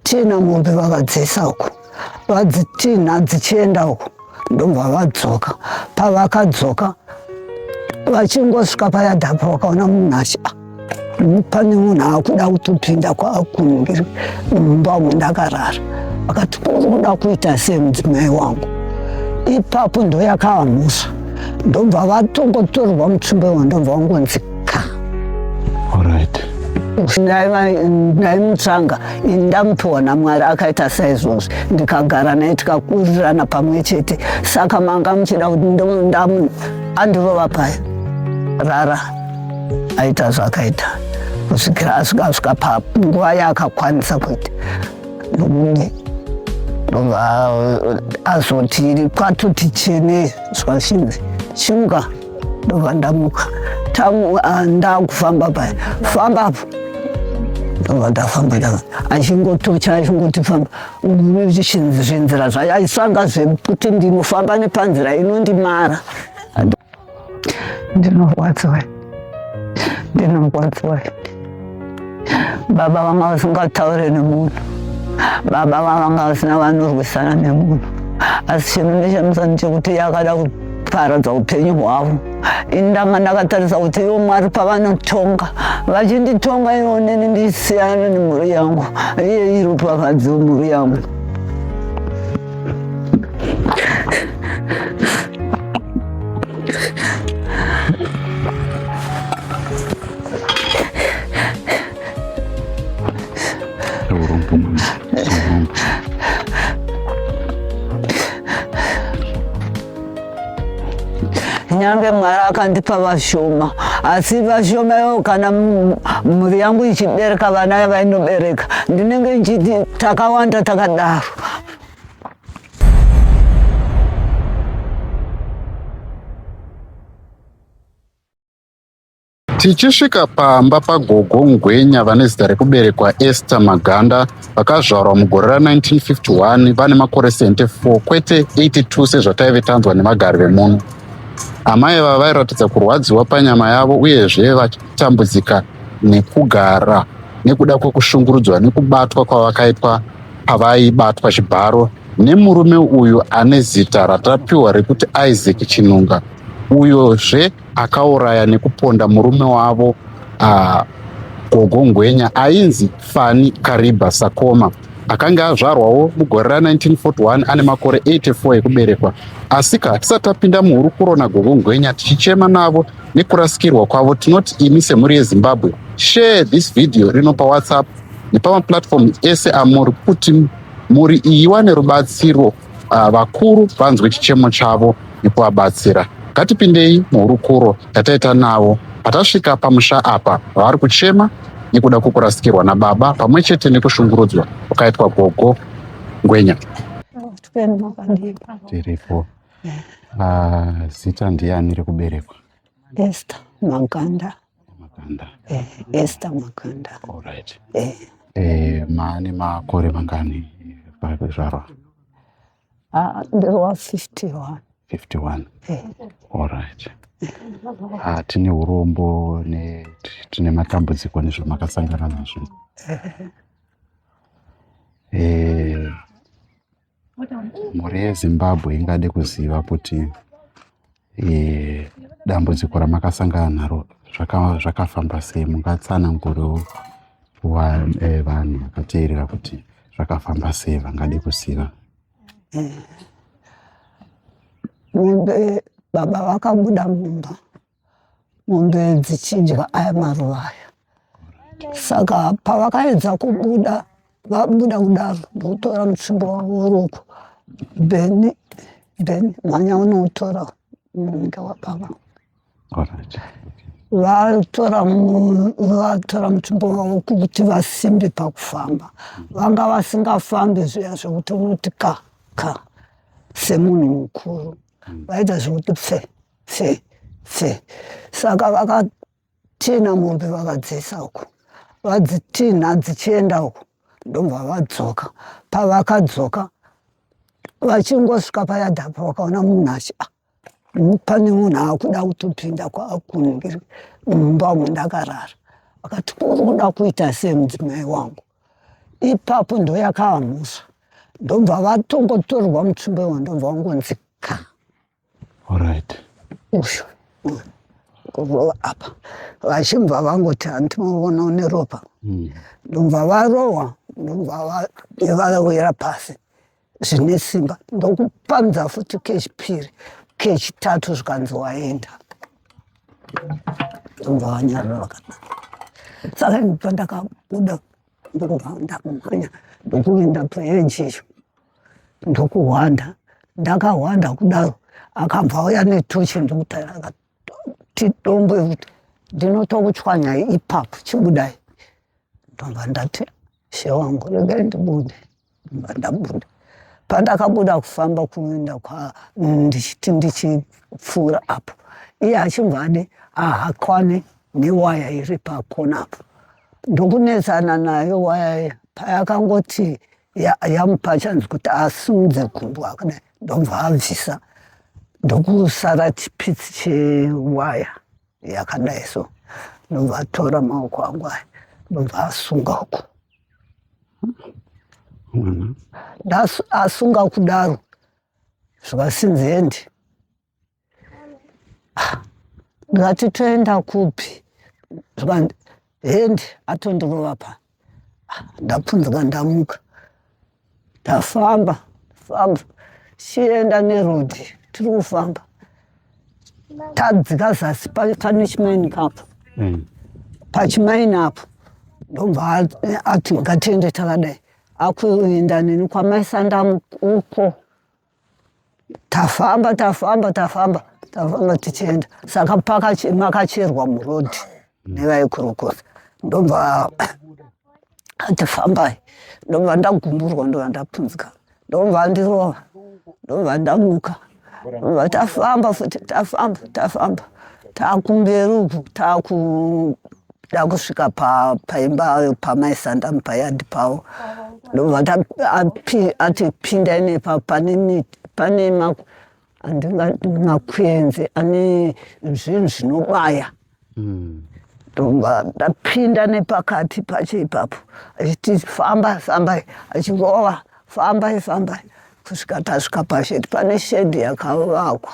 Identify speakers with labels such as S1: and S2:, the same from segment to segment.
S1: Tina mombe vakadziisa uko vadzitinha dzichienda uko ndobva vadzoka pavakadzoka vachingosvika payadhapo vakaona munhu achi ah, pane munhu akuda kutopinda kwakumbiri mumba umu ndakarara akati kuda kuita semudzimai wangu ipapo ndoyakava mhosva ndobva vatongotorwa mutsumbe wandobva wangonzi ndaimutsvanga ndamupiwa namwari akaita saizvozvi ndikagara naye tikakurirana pamwe chete saka manga muchida kuti ndamu andirova paya rara aita zvakaita kusvikira asvikasvika panguva yaakakwanisa kuita nomune ndobva azoti kwatoti chene zvashinzi chimuka ndobva ndamuka tamuka ah, ndakufamba paya famba apo ndobva ndafamba ndava achingotocha achingoti famba zvinzira zvayo aisanga zvekuti ndinofamba nepanzira inondimara ndinorwadziwa ndinorwadziwa baba vanga vasingataure nemunhu baba vavanga vasina vanorwisana nemunhu asi chinhu nechemusani chekuti yakada kuparadza upenyu hwavo ini ndanga ndakatarisa kuti ivo mwari pavanotonga vachinditonga ivo neni ndisiyana nemhuri yangu iye iropafadzi wemhuri yangu nyange mwari akandipa vashoma asi vashoma ivo kana mhuri yangu ichibereka vana yavainobereka ndinenge ndichiti takawanda takadaro
S2: Tichisvika pamba paGogo Ngwenya vane zita rekuberekwa Esther Maganda vakazvarwa mugore ra1951 vane makore 74 kwete 82 sezvataive tanzwa nevagari vemuno. Amai ava vairatidza kurwadziwa panyama yavo uyezve vachitambudzika nekugara nekuda kwekushungurudzwa nekubatwa kwavakaitwa pavaibatwa chibharo nemurume uyu ane zita ratapiwa rekuti Isaac Chinunga uyozve akauraya nekuponda murume wavo uh, gogo ngwenya ainzi fani kariba sakoma akange azvarwawo mugore ra1941 ane makore 84 ekuberekwa asika tisati tapinda muhurukuro nagogo ngwenya tichichema navo nekurasikirwa kwavo tinoti imi semhuri yezimbabwe share this video rino pawhatsapp nepamaplatform ese amuri kuti mhuri iyi iwane rubatsiro uh, vakuru vanzwe chichemo chavo nekuvabatsira. Ngatipindei muhurukuro yataita navo patasvika pamusha apa vavari kuchema nekuda kwekurasikirwa nababa pamwe chete nekushungurudzwa kwakaitwa gogo ngwenya tiripo ah, zita ndiani rekuberekwa esta
S1: maganda Makanda.
S2: Eh, Esther
S1: Makanda. All right.
S2: Eh. Eh, maane makore mangani pakuzvarwa? Ah,
S1: ndirwa 51. 51. Eh. All
S2: right. Ah, tine urombo ne tine matambudziko nezvamakasangana nazvo. Eh. mhuri yezimbabwe ingade kuziva kuti eh, dambudziko ramakasangana naro zvakafamba sei mungatsanangurewo eh, vanhu vakateerera kuti zvakafamba sei vangade kuziva
S1: baba vakabuda mumba mombe dzichinjwa aya maruva aya saka pavakaedza kubuda vabuda kudaro ndokutora mutsingo wavo woruoko bheni bheni mhanya unoutora unenge wababa vatora vatora mutumbo wavo kuti vasimbe pakufamba vanga vasingafambi zviya zvekuti unoti ka ka semunhu mukuru mm. vaita zvekuti pse pse pse saka vakatina mombe vakadzisa uko vadzitinha dzichienda uko ndobva vadzoka pavakadzoka vachingosvika payadhapo vakaona munhu achi ah, pane munhu akuda kutopinda kwakunhu mumba mundakarara akati uri kuda kuita semudzimai wangu ipapo ndoyakaamusa ndobva vatongotorwa mutsvimbo iwo ndobva wangonzi ka
S2: orit uyu
S1: kurova apa vachibva vangoti handinoona une ropa hmm. ndobva varohwa ndobva vawira pasi zvine simba ndokupanza futi kechipiri kechitatu zvikanzi waenda ndobva vanyarara vakanaka saka ini pandakabuda ndokubva ndakumhanya ndokuenda paeji icho ndokuhwanda ndakahwanda kudaro akabva auya netochi ndokutaira akati dombo yekuti ndinotokuchwanya ipapo chibudai ndobva ndati she wangu regai ndibude ndabuda pandakabuda kufamba kuenda kwa ndichiti ndichipfuura apo iye achibva adi ahakwane newaya iri pakona apo ndokunetsana nayo waya payakangoti yamupa ya chanzi kuti asimudze gumbo akadai ndobva abvisa ndokusara chipitsi chewaya yakadai so ndobva atora maoko angu aya ndobva asunga uku asunga kudaro zvikasinzi endi ah, ndikati toenda kupi zvikanzi hand atondirova pa ah, ndapunzwa ndamuka tafamba famba chienda neroad tiri kufamba tadzika zasi pane chimaini kapo hmm. pachimaini apo ndobva ati ngatiende takadai akuenda neni kwamaisandamu uko tafamba tafamba tafamba tafamba tichienda saka makacherwa muroad nevaikorokosa ndobva ati fambai ndobva ndagumburwa ndobva ndapunzika ndobva andirova ndobva ndamuka ndobva tafamba futi tafamba tafamba takumberi uku taku ndakusvika paimba pamai sandamu payadi pavo ndobva ati pindai nepa pane andingati makwenzi ane zvinhu zvinobaya hmm. ndobva ndapinda nepakati pacho ipapo achiti famba fambai achingova fambai fambai kusvika tasvika pashedi pane shedi yakavakwa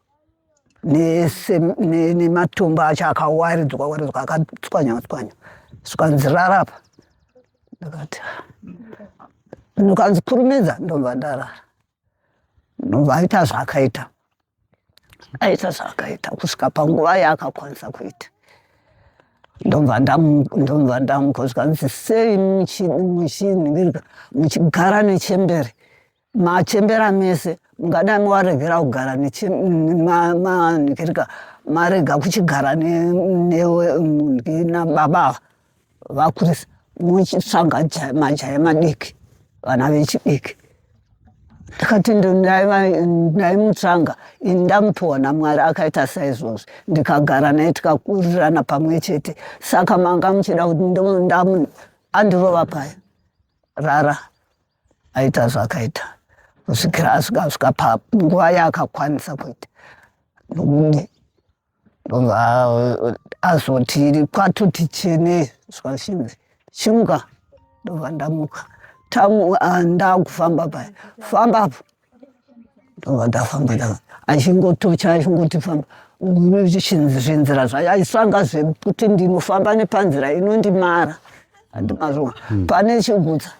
S1: nematombo acho akawaridzwa waridzwa akatswanywa tswanywa zvikanzi rara apa ndakati ndokanzi kurumidza ndobva ndarara ndobva aita zvaakaita aita zvaakaita kusvika panguva yaakakwanisa kuita ndobva ndobva ndamuka zvikanzi sei muchinhirika muchigara nechembere machembera mese mungadai mawaregera kugara manhikirika marega kuchigara nemunhi nababa vakurisa muchitsvaga majaya madiki vana vechidiki ndikati ndaimutsvanga ini ndamupiwa namwari akaita saizvozvi ndikagara naye tikakurirana pamwe chete saka manga muchida kuti ndamu andirova paya rara aita zvakaita kusvikira asvika asvika panguva yaakakwanisa kuita ndobva azoti kwatoti chene zvashinzi chimuka ndobva ndamuka tamuka ah, ndakufamba paya famba apo ndovandafamba ndava achingotocha achingoti famba zvinzira zvacho aisanga zvekuti ndinofamba nepanzira inondimara andimazoa hmm. pane chigutsa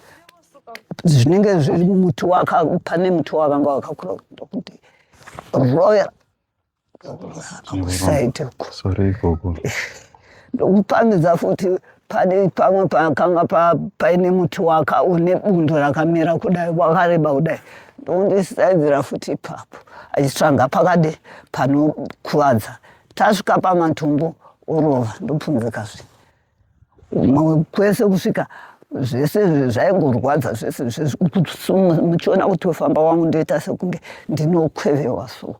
S1: zvinenge zviri muti waka pane muti wakanga wakakura ndokuti royal kusaidi uko sorry gogo ndokupangidza futi pane pamwe pakanga paine muti waka une bundo rakamera kudai wakareba kudai ndondisaidzira futi ipapo achitsvaga pakadi panokuvadza tasvika pamatumbu orova ndopunzika zve Mamwe kwese kusvika zvese zvaingorwadza zvese muchiona kuti wefamba wangu ndoita sekunge ndinokwevewa so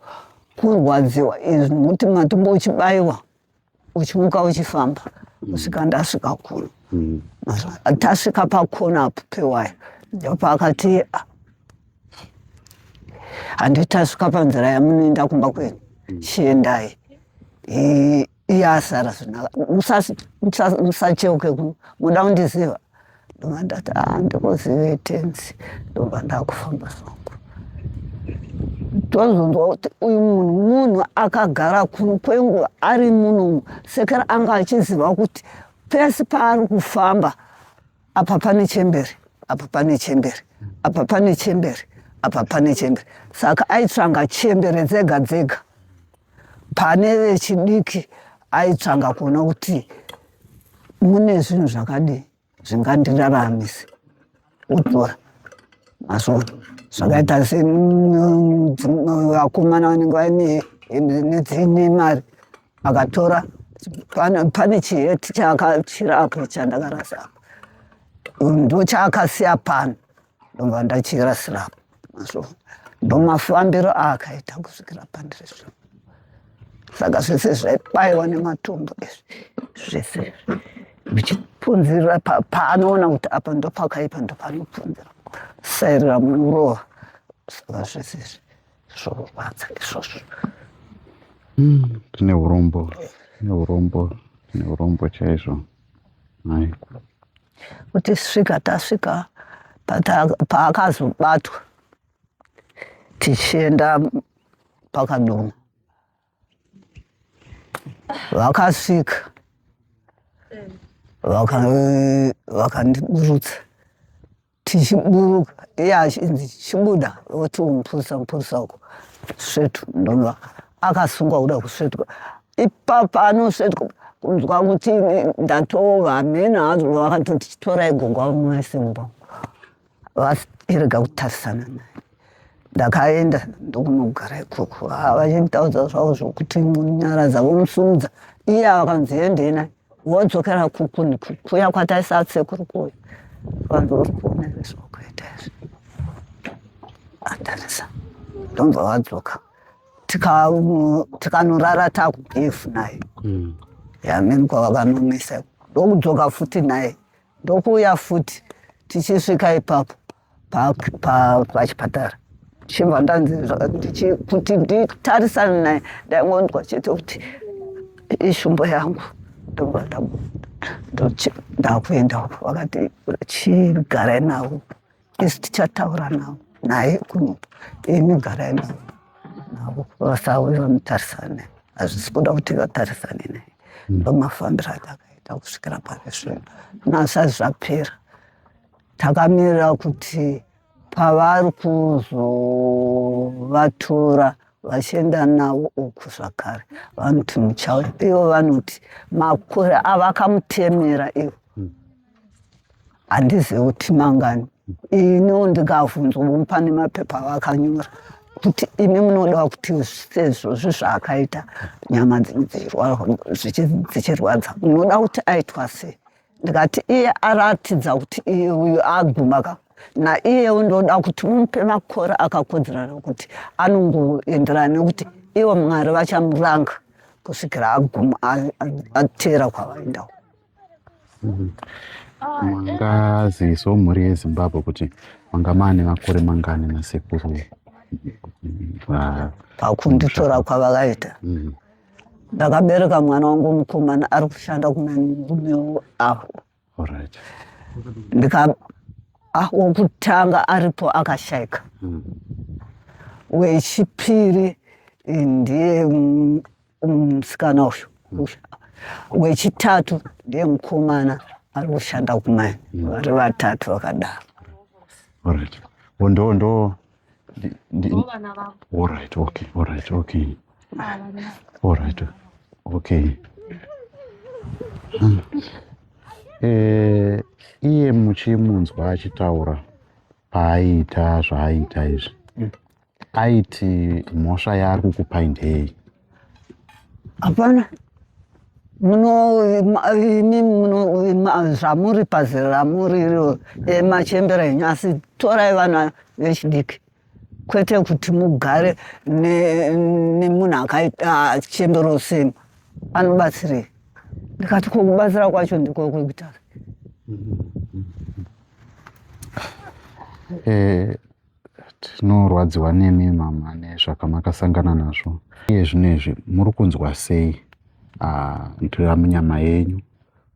S1: kurwadziwa izvi nokuti matumbo uchibayiwa uchimuka uchifamba kusvika ndasvika kuno mm. tasvika pakona apo pewaya ndopaakati ah, handitasvika panzira yamunoenda kumba kwenu mm. chiendai iye asara zvinaka musacheuke kuno muda kundiziva ndobva ndati a ah, ndikuzive tenzi ndobva ndakufamba zvangu tozonzwa kuti uyu munhu munhu akagara kuno kwenguva ari munomu sekera anga achiziva kuti pese paari kufamba apa pane chembere apa pane chembere apa pane chembere apa pane chembere saka aitsvanga chembere dzega dzega pane vechidiki aitsvanga kuona kuti mune zvinhu zvakadii zvingandiraramise otora masvota zvakaita sevakomana vanenge vaine mari akatora pane chiheti chaakachira apo chandakarasa apo ndochaakasiya pano ndobva ndachirasira apo mazvo ndomafambiro aakaita kusvikira pandiri zvino saka zvese zvaibaiwa nematombo izvi zvese zvichipunzirira paanoona kuti apa ndopakaipa ndopanopunzira sairira murowa saka zvese izvi zvorwadza izvozvo hmm,
S2: tine urombo tine urombo tine urombo chaizvo mai
S1: kuti svika tasvika paakazobatwa tichienda pakadoma vakasvika vakandiburutsa tichiburuka iye achinzi chibuda voti umupurisa mupurisa uko svetu ndobva akasungwa kuda kusvetwa ipapa anosvetwa kunzwa kuti ndatova hameno hazo vakatoti chitorai gongwa mumwe simba vasirega kutarisana naye ndakaenda ndokunogara ikoko ah, vachinditaudza zvavo zvokuti nyara dzavo musumudza iye avakanzi endei naye wodzokera kuku nekukuya kwataisasekuru kuya vanhu vari kuona zvokuita izvi atarisa ndobva vadzoka tikanorara takubefu naye hmm. yamene kwavakanomisa ndokudzoka futi naye ndokuuya futi tichisvika ipapo pachipatara chibva ndanzi kuti nditarisane naye ndaingonzwa chete kuti ishumbo yangu ndobva ndakuenda uko vakati chigarai navo isi tichataura navo naye kuno imi garai navo navo vasauye vamutarisane hazvisi kuda kuti vatarisane naye hmm. ndomafambiro atakaita kusvikira pari zvino nasati zvapera takamirira kuti pavari kuzovatora vachienda navo uku zvakare vanoti muchauya ivo vanoti makore avakamutemera ivo handizivi kuti mangani ino ndikavhunzwa vomupa nemapepa vakanyora kuti imi munoda kuti sezvozvi zvaakaita nyama dzichirwadza munoda kuti aitwa sei ndikati iye aratidza kuti iye uyu aguma ka naiyewo ndoda kuti mumupe makore akakodzerana kuti anongoenderana nekuti ivo mwari vachamuranga kusvikira aguma ateera kwavaendawo Mhm.
S2: mangazivisawo mhuri yezimbabwe kuti manga maane makore mangani nasekuru
S1: pakunditora kwavakaita mhm. ndakabereka mwana wangu mukomana ari kushanda kuna murumewo aho ndika ah, wokutanga aripo akashaika mhm. wechipiri ndiye musikana uyu wechitatu ndiye mukomana ari kushanda kumai mm. vari vatatu vakadaro orit ndo ndo orit okay orit okay
S2: orit okay hmm. eh, iye muchimunzwa achitaura paaiita zvaaiita izvi mm. aiti mhosva yaari kukupai ndei
S1: hapana zvamuri pazera ramuri iro emachembera enyu asi torai vana vechidiki kwete kuti mugare nemunhu akachembera useni anobatsirei ndikati kokubatsira kwacho ndiko kwekuita
S2: Eh, tinorwadziwa nemi mama nezvakamakasangana nazvo iye zvino izvi muri kunzwa sei ah, ndirira munyama yenyu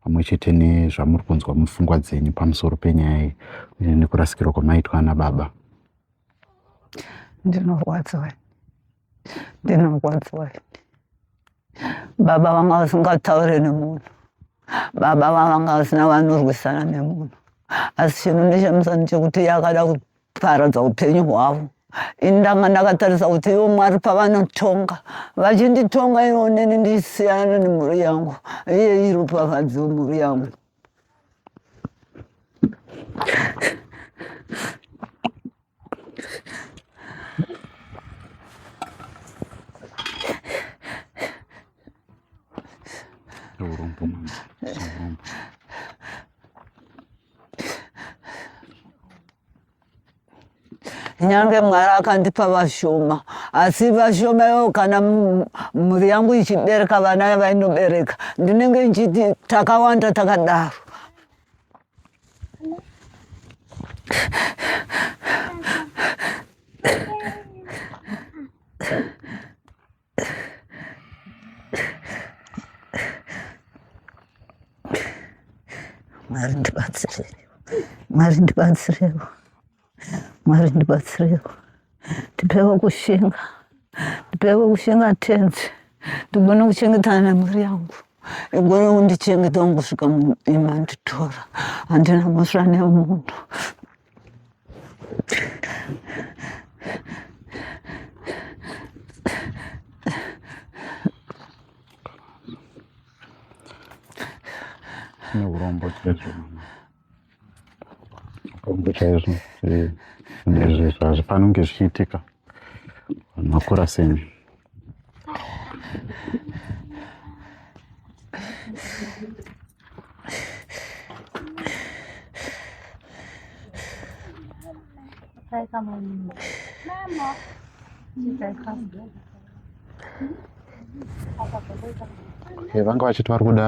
S2: pamwe chete nezvamuri kunzwa mupfungwa dzenyu pamusoro penyaya iyi uye nekurasikirwa kwamaitwa ana baba
S1: ndinorwadziwa ndinorwadziwa baba vanga vasingataure nemunhu baba vavanga vasina vanorwisana nemunhu asi chino nechemusani chekuti iye akada kuparadza upenyu hwavo ini ndanga ndakatarisa kuti ivo mwari pavanotonga vachinditonga ivo neni ndisiyana nemhuri yangu iye iropafadzi wemhuri yangu nyange mwari akandipa vashoma asi vashoma ivo kana mhuri yangu ichibereka vana yavainobereka ndinenge ndichiti takawanda takadaro Marinda Batsirero. Marinda Batsirero. Mwari ndibatsirewo, ndipewo kushinga, ndipewo kushinga tenzi, ndigone kuchengetana nemhuri yangu igone kundichengeta wangu kusvika imanditora handina mhosva nemunhu
S2: neurombo chete Kwambo chaizvo nezvezvo hazvifani kunge zvichiitika vanhu vakura semi vanga vachiti vari kuda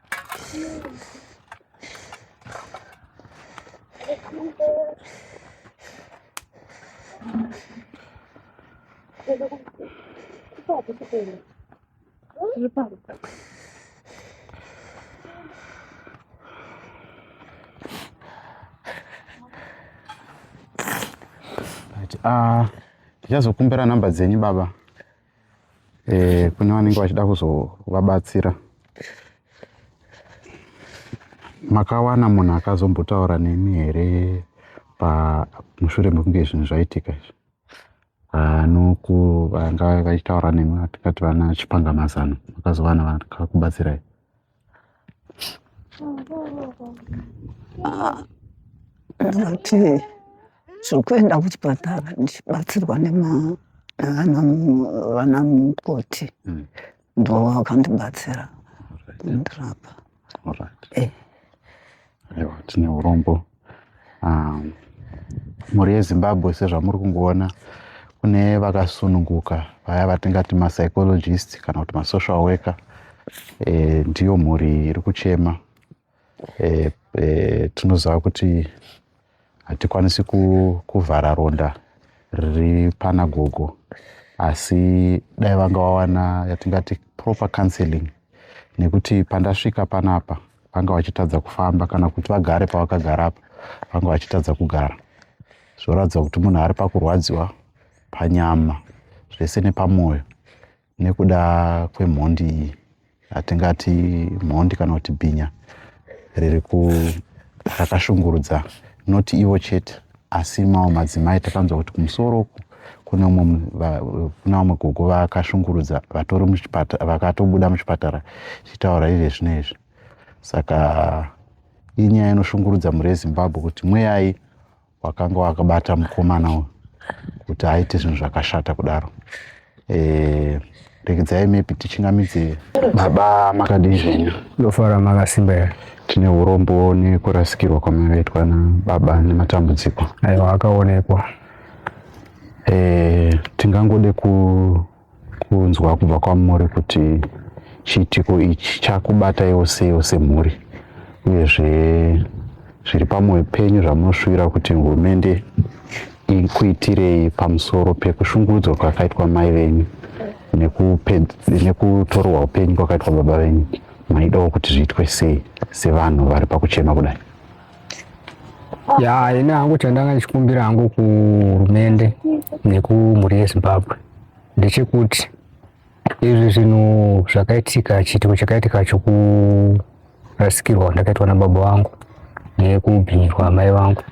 S2: Ah, ndichazokumbira namba dzenyu baba eh, kune vanenge vachida kuzovabatsira makawana munhu akazombotaura nemi here pamushure mekunge zvinhu zvaitika izvi anoku vanga vachitaura nemi tikati vana chipanga mazano makazovana vakakubatsirai
S1: Ndati zvekuenda kuchipatara ndichibatsirwa nevana mukoti hmm. ndo vakandibatsira kundirapa.
S2: Ewa, tine urombo Ah, mhuri yezimbabwe sezvamuri kungoona kune vakasununguka vaya vatingati mapsychologist kana kuti masocial worker e, ndiyo mhuri iri kuchema e, e, tinoziva kuti hatikwanisi kuvhara ronda riri pana gogo asi dai vanga vawana yatingati proper counseling nekuti pandasvika panapa vanga vachitadza kufamba kana kuti vagare pavakagara apa vanga vachitadza kugara zvoratidza kuti munhu ari pakurwadziwa panyama zvese nepamwoyo nekuda kwemhondi iyi hatingati mhondi kana kuti bhinya riri ku rakashungurudza noti ivo chete asi mawo madzimai takanzwa kuti kumusoro uku kune umwe kuna vamwe gogo vakashungurudza vatori muchipatara vakatobuda muchipatara chitaura izve zvino izvi saka inyaya inoshungurudza mhuri yezimbabwe kuti mweyai wakanga wakabata mukomana uyu kuti aite zvinhu zvakashata kudaro eh, rekidzai maybe tichingamidze baba makadii zvenyu ndofara makasimba
S3: here tine urombo
S2: nekurasikirwa kwamakaitwa nababa nematambudziko aiwa akaonekwa
S3: eh,
S2: tingangode ku kunzwa kubva kwamuri kuti chiitiko ichi chakubata yose yose mhuri uyezve zviri pamwoyo penyu zvamunoshuwira kuti hurumende ikuitirei pamusoro pekushungurudzwa kwakaitwa mai venyu nekutorwa upenyu kwakaitwa baba venyu maidawo kuti zviitwe sei sevanhu vari pakuchema kudai ya
S3: ini hangu chandanga ndichikumbira hangu kuhurumende nekumhuri yezimbabwe ndechekuti izvi zvinhu zvakaitika chiitiko chakaitika chokurasikirwa kwandakaitwa nababa vangu nekubhinyirwa amai vangu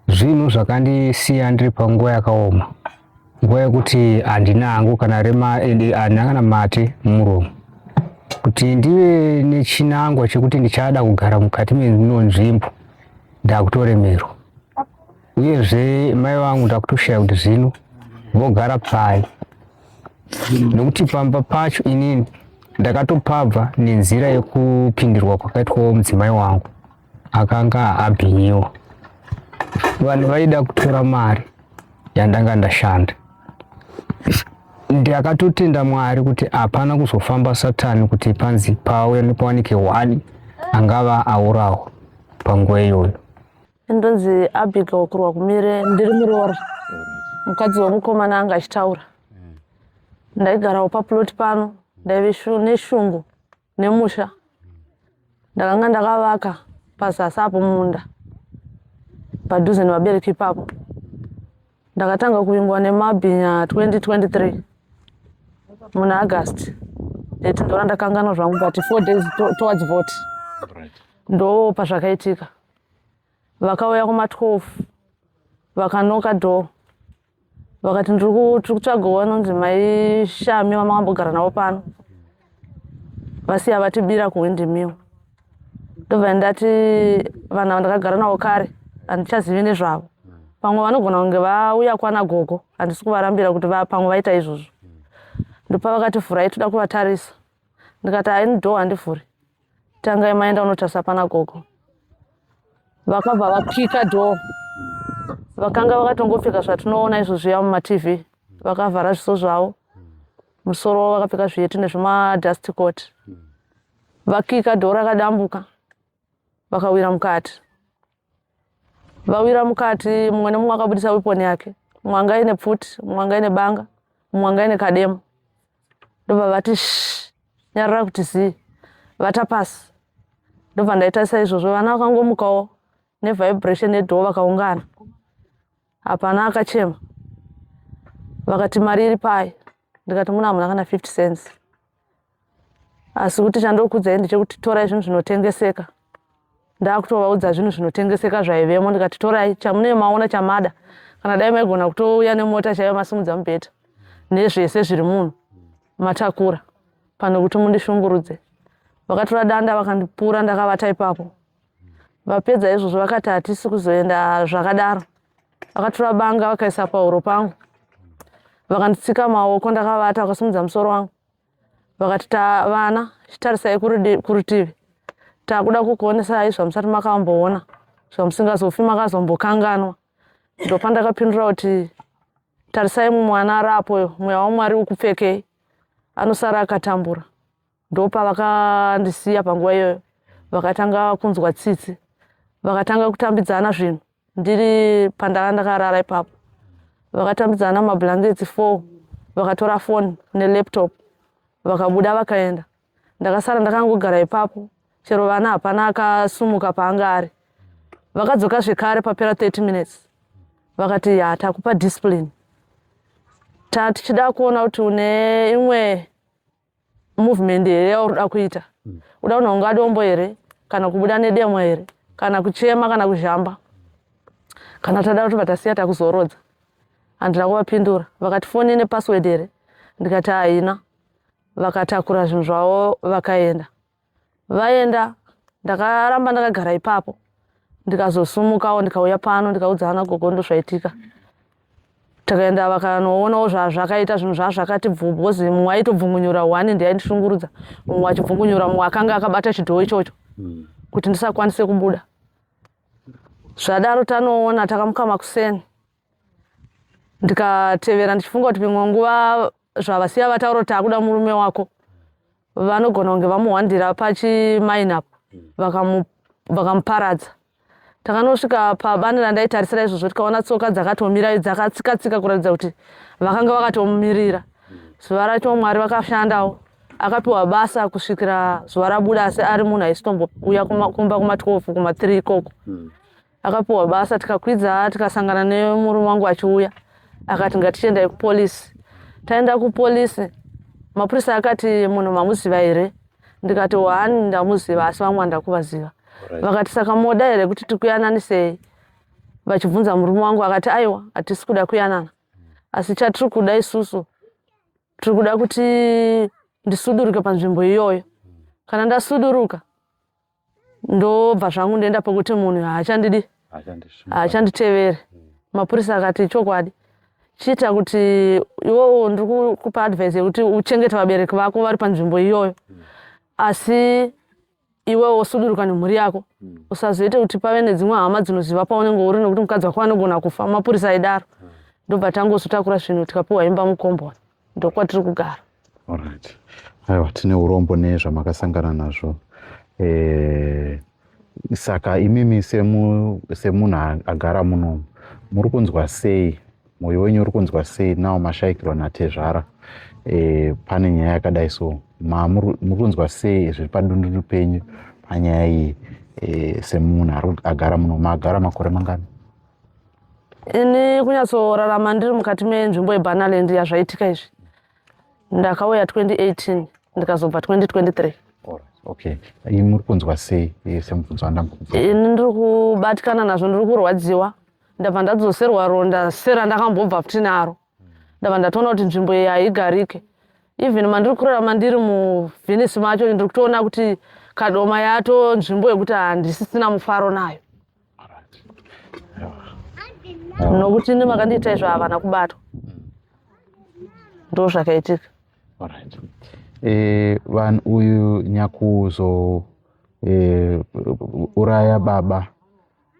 S3: zvinhu zvakandisiya ndiri panguva yakaoma nguva yekuti handina hangu kana rema ende handina kana mate mumuromo kuti ndive nechinangwa chekuti ndichada kugara mukati meno nzvimbo ndakutoremerwa uyezve mai vangu ndakutoshaya kuti zvino vogara pai nokuti pamba pacho inini ndakatopabva nenzira yekupindirwa kwakaitwawo mudzimai wangu akanga abhinyiwa vanhu vaida kutora mari yandanga ndashanda ndakatotenda mwari kuti hapana kuzofamba satani kuti panzi pauya nepawanike one angava aurawa panguva iyoyo ndonzi
S4: abiga wakurwa kumire ndiri muroora mukadzi wemukomana anga achitaura ndaigarawo paploti pano ndaive neshungu nemusha ndakanga ndakavaka pazasi apo munda padhuze nevabereki ipapo ndakatanga kuvingwa nemabhinya 2023 muna august that ndora ndakanganwa zvangu but four days to, towards vote ndo pazvakaitika vakauya kuma 12 vakanoka door vakati ndiri kutsvagawo vanonzi mai shami vamakambogara navo pano vasiya vatibira kuhwindi miwo ndobva ndati vanhu ava ndakagara navo kare handichazivi nezvavo pamwe vanogona kunge vauya kwana gogo handisi kuvarambira kuti pamwe vaita izvozvo ndopa vakati furai toda kuvatarisa ndikati haini door handivhuri tangai maenda unotarisa pana gogo vakabva vakika door vakanga vakatongopfeka zvatinoona izvo zviya mumatv vakavhara zviso zvavo musoro wavo vakapfeka zviyeti nezvimadust coat vakika door rakadambuka vakawira mukati vawira mukati mumwe nemumwe akabudisa weponi yake mumwe anga ine pfuti mumwe anga ine banga mumwe anga ine kadema ndobva vati sh nyarara kuti zii vata pasi ndobva ndaitarisa izvozvo vana vakangomukawo nevibration yedhoo vakaungana hapana akachema vakati mari iri pai ndikati muna hamuna kana 50 cents asi kuti chandokudzai ndechekuti torai zvinhu zvinotengeseka ndakutovaudza zvinhu zvinotengeseka zvaivemo ndikati torai chamunee maona chamada kana dai maigona kutouya nemota chaiva masimudza mubheta nezvese zviri munhu matakura pane kuti mundishungurudze vakatora danda vakandipura ndakavata ipapo vapedza izvozvo vakati hatisi kuzoenda zvakadaro vakatora banga vakaisa pahuro pangu vakanditsika maoko ndakavata vakasimudza musoro wangu vakati tavana chitarisai kurutivi takuda kukuonesai zvamusati makamboona zvamusingazofi makazombokanganwa ndopandakapindura kuti tarisai mumwana arapoyo mweya wamwari ukupfekei anosara akatambura ndopavakandisiya panguva iyoyo vakatanga kunzwa tsitsi vakatanga kutambidzana zvinhu ndiri pandanga ndakarara ipapo vakatambidzana mablankets four vakatora foni nelaptop vakabuda vakaenda ndakasara ndakangogara ipapo chero vana hapana akasumuka paanga ari vakadzoka zvekare papera 30 minutes vakati ya takupa discipline tatichida kuona kuti une imwe movement here yauri kuda kuita mm. uda kunhonga dombo here kana kubuda nedemo here kana kuchema kana kuzhamba kana tada kuti vatasiya takuzorodza handina kuvapindura vakati foni ine password here ndikati haina vakatakura zvinhu zvavo vakaenda vaenda ndakaramba ndakagara ipapo ndikazosumukawo ndikauya pano ndikaudza ana gogo ndozvaitika takaenda vakanoonawo zvazvakaita zvinhu zvazvakati bvu because mumwe aitobvungunyura one ndiye aindishungurudza mumwe achibvungunyura mumwe akanga akabata chidhoo ichocho hmm. kuti ndisakwanise kubuda zvadaro tanoona takamuka makuseni ndikatevera ndichifunga kuti pimwe nguva zvavasiya vataura kuti akuda murume wako vanogona kunge vamuhwandira pachimainap vakamuparadza takanosvika pabani randaitarisira izvozvo tikaona tsoka dzakatomira dzakatsikatsika kuratidza kuti vakanga vakatomumirira zuva racho mwari vakashandawo akapiwa basa kusvikira zuva rabuda asi ari munhu aisitombouya kumba kuma 12 kuma 3 ikoko hmm. akapiwa basa tikakwidza tikasangana nemurume wangu achiuya akati ngatichiendai kupolisi taenda kupolisi mapurisa akati munhu mamuziva here ndikati wani ndamuziva asi vamwe andakuvaziva vakati saka moda here kuti tikuyananisei vachibvunza murume wangu akati aiwa hatisi kuda kuyanana asi chatiri kuda isusu tiri kuda kuti ndisuduruke panzvimbo iyoyo kana ndasuduruka ndobva zvangu ndoenda pekuti munhu haachandidi haachanditevere mm. mapurisa akati chokwadi chiita kuti iwowo ndiri kukupa advice yekuti uchengete vabereki vako vari panzvimbo iyoyo mm. asi iwewo wosuduruka nemhuri yako mm. usazoite kuti pave nedzimwe hama dzinoziva paunenge uri nekuti mukadzi wako anogona kufa mapurisa aidaro ndobva tangozotakura zvinhu tikapiwa imba mukomboni ndokwatiri kugara alright
S5: aiwa tine urombo nezvamakasangana nazvo eh, saka imimi semunhu semu agara munomu muri kunzwa sei mwoyo wenyu uri kunzwa sei nawo mashaikirwa natezvara e, pane nyaya yakadai so mamuri kunzwa sei zviri padundundu penyu panyaya iyi e, semunhu agara muno maagara makore mangani
S4: ini kunyatsorarama ndiri mukati menzvimbo yebanaland yazvaitika izvi ndakauya 2018 ndikazobva 2023 okay
S5: ini muri kunzwa sei semubvunzo wandambokupa ini ndiri
S4: kubatikana nazvo ndiri kurwadziwa ndabva ndadzoserwa ronda sera ndakambobva futi naro ndava ndatoona kuti nzvimbo iyi haigarike even mandiri kurarama ndiri muvhenisi macho ndiri kutoona kuti kadoma yato nzvimbo yekuti handisisina mufaro nayo nokuti ine makandiita izvo havana kubatwa ndo zvakaitika
S5: eh, vanhu uyu nyakuzo eh, uraya baba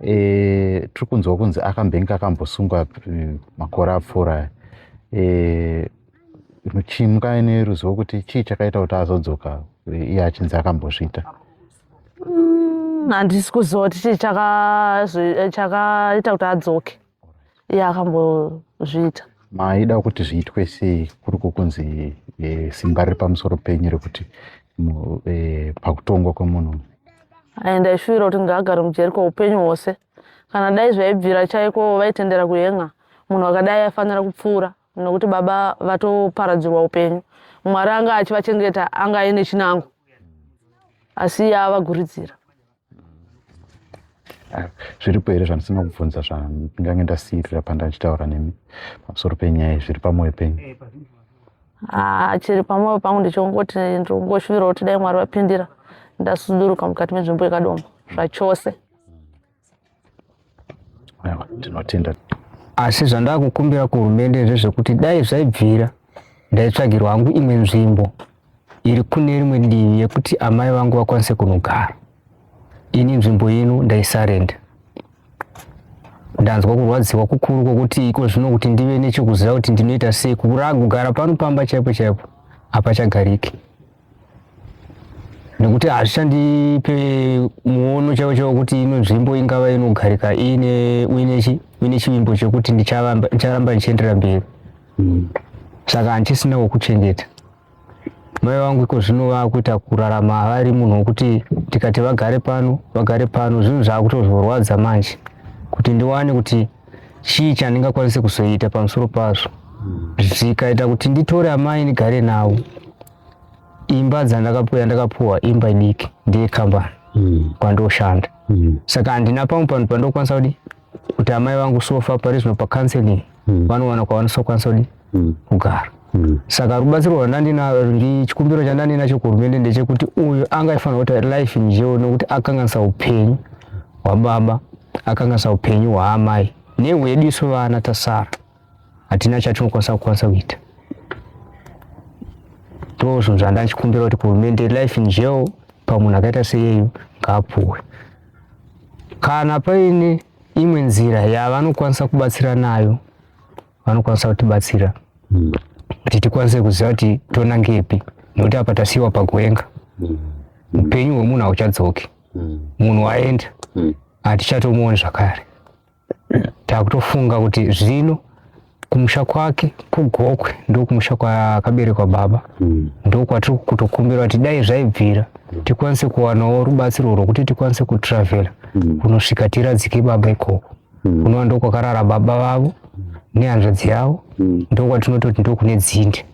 S5: e, tiri kunzwa kunzi akambenge akambosungwa mm, makore apfuura e, chimuka ine ruzivo kuti chii chakaita kuti azodzoka iye achinzi akambozviita mm,
S4: handisi kuziva kuti chii chakaita kuti adzoke ya akambozviita maida kuti
S5: zviitwe sei kuri kukunzi e, simba riri pamusoro penyu rekuti e, pakutongwa kwemunhu ai ndaishuvira
S4: kuti ngaagare mujeri kweupenyu hwose kana dai zvaibvira chaiko vaitendera kuhen'a munhu akadai aifanira kupfuura nokuti baba vatoparadzirwa upenyu mwari anga achivachengeta anga aine chinango asi ava guridzira
S5: zviripo here zvandisina kubvunza zvandange ndasiirira pandaachitaura nemi pamusoro penyaya zviri pamwoyo penyu eh, ah,
S4: chiri pamwoyo pangu ndichongoti ndongoshuvira kuti dai mwari vapindira ndasuduruka mukati menzvimbo yekadoma zvachose
S5: tinotenda asi
S3: zvandakukumbira kuhurumende ndezvekuti dai zvaibvira ndaitsvagirwa hangu imwe nzvimbo iri kune rimwe divi yekuti amai vangu vakwanise kunogara ini nzvimbo ino ndaisarenda ndanzwa kurwadziwa kukuru kwokuti iko zvino kuti ndive nechekuziva kuti ndinoita sei kugara pano pamba chaipo chaipo hapachagariki nekuti hazvishandipe muono chaiwo chaiwo kuti ino nzvimbo ingava inogarika iine uine chivimbo chekuti ndicharamba ndichienderera mberi mm. saka handisina wokuchengeta mai vangu iko zvino vakuita kurarama vari munhu wokuti tikati vagare pano vagare pano zvinhu zvaakutozorwadza manje kuti ndiwane kuti chii chandingakwanise kuzoita pamusoro pazvo zvikaita kuti nditore amai ndigare navo imba dzandakapuwa yandakapuwa imba idiki ndeyekambani mm. kwandoshanda mm. saka handina pamwe panhu pandokwanisa kudi kuti amai vangu sofa parizvino pacounseling mm. vanowana kwavanosokwanisa kudi mm. kugara mm. saka rubatsiro rwandandinaro chikumbiro chandandinacho kuhurumende ndechekuti uyu anga aifanira kuti life njeo nekuti akanganisa upenyu hwababa akanganisa upenyu hwaamai nehwedu isu vana tasara hatina chatinokwanisa kukwanisa kuita ndozvo zvandachikumbira kuti kuhurumende life in jail pamunhu akaita seyeyu ngaapuwe kana paine imwe nzira yavanokwanisa kubatsira nayo vanokwanisa kutibatsira mm. kuti tikwanise kuziva kuti tonangepi nokuti apa tasiyiwa pakuenga mm. upenyu mm. hwemunhu hauchadzoki mm. munhu waenda mm. hatichatomuoni zvakare takutofunga kuti zvino kumusha kwake kugokwe ndokumusha kwakaberekwa baba mm. ndokwatiri kutokumbira kuti dai zvaibvira mm. tikwanise kuwanawo rubatsiro rwokuti tikwanise kutravela mm. kunosvika tiradzike baba ikoko mm. kunova ndokwakarara baba vavo nehanzvadzi yavo mm. ndokwatinototi ndokune dzinde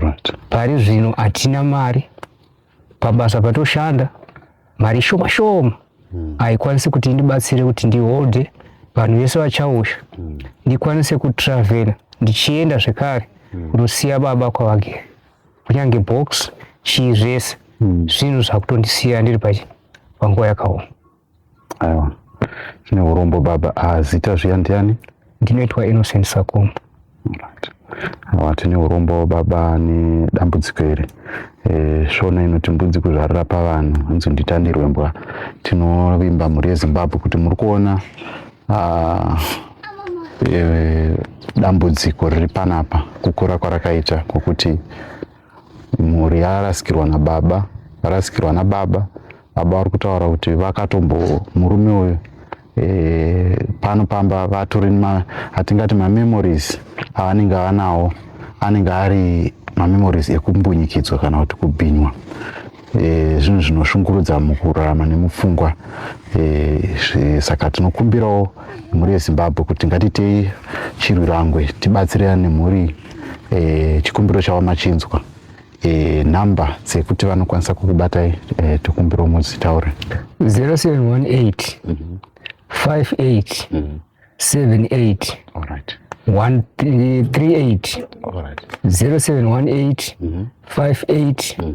S3: right. pari zvino hatina mari pabasa patoshanda mari shoma shoma mm. haikwanisi kuti ndibatsire kuti ndiholde vanhu vese vachausha mm. ndikwanise kutravela ndichienda zvekare mm. kunosiya baba kwavagere kunyange box chii zvese mm. zvinhu zvakutondisiya ndiri panguva yakaoma Aiwa.
S5: Chine urombo baba. Ah, zita zviya ndiani? Ndinoitwa Innocent
S3: Sakomo. Right. Awa
S5: tine urombo baba ne dambudziko iri. Eh, shona inoti mbudzi kuzvarira pavanhu hanzi nditandirwe mbwa. Tinovimba mhuri yeZimbabwe kuti muri kuona ah, eh, dambudziko riri panapa kukura kwarakaita kwokuti mhuri yarasikirwa nababa varasikirwa nababa baba vari kutaura kuti vakatombo murume uyu e, pano pamba vatori hatingati mamemories avanenge vanawo anenge ari mamemories ekumbunyikidzwa kana kuti kubhinywa e, zvinhu zvinoshungurudza mukurarama nemupfungwa e, saka tinokumbirawo mhuri yezimbabwe kuti ngatitei chirwirangwe tibatsirane nemhuri e, chikumbiro chavo machinzwa e, nhamba dzekuti vanokwanisa kukubatai e, tokumbirawo muzitaure 0718 58 mm -hmm. 78 All
S3: right. 138 All right. 0718 mm -hmm. 58 mm -hmm.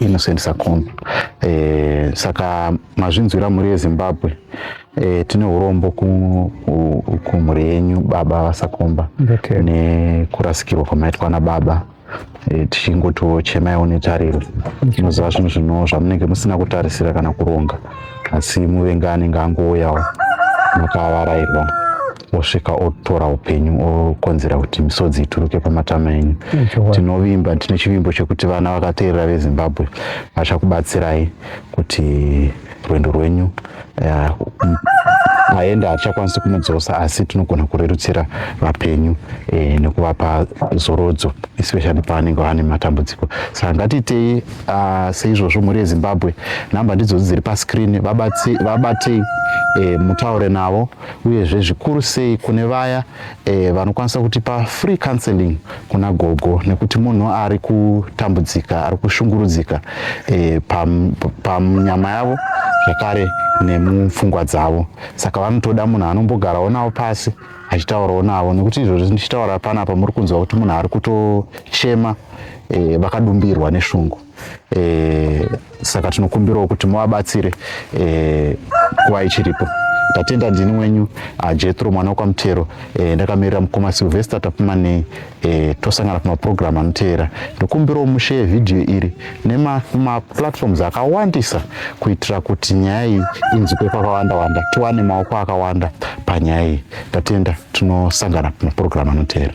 S3: Innocent
S5: Sakombe. Eh, saka mazvinzwira mhuri yeZimbabwe eh, tine urombo kumhuri yenyu baba vasakomba okay. nekurasikirwa kwamaitwa nababa eh, tichingotochemaiwo netariro tinoziva okay. zvinhu zvino zvamunenge musina kutarisira kana kuronga asi muvenga anenge angouyawo makavarairwa osvika otora upenyu okonzera kuti misodzi ituruke pamatama enyu tinovimba tine chivimbo chekuti vana vakateerera vezimbabwe vachakubatsirai kuti rwendo rwenyu eh, aenda hatichakwanisi kumudzosa asi tinogona kurerutsira vapenyu e, nekuvapa zorodzo especially pavanenge vane matambudziko saka ngatiitei ah, seizvozvo mhuri yezimbabwe nhamba ndidzodzi dziri pascreen vabatei vabate, e, eh, mutaure navo uyezve zvikuru sei kune vaya e, vanokwanisa kutipa free counseling kuna gogo nekuti munhu ari kutambudzika ari kushungurudzika e, panyama pam, yavo zvakare nemupfungwa dzavo saka vanotoda munhu anombogarawo navo pasi achitaurawo navo nekuti izvozvo ndichitaura panapa muri kunzwa kuti munhu ari kutochema e, vakadumbirwa neshungu e, saka tinokumbirawo kuti muvabatsire e, eh, kuva ichiripo tatenda ndini wenyu ah, jetro mwana wekwamutero e, ndakamirira mukoma silvester tapumanei e, tosangana pamapurogiramu anoteera ndokumbirawo musheye vhidhiyo iri nemaplatforms akawandisa kuitira kuti nyaya iyi inzwikwe kwakawanda wanda tiwane maoko akawanda panyaya iyi tatenda tinosangana pamapurogiramu anoteera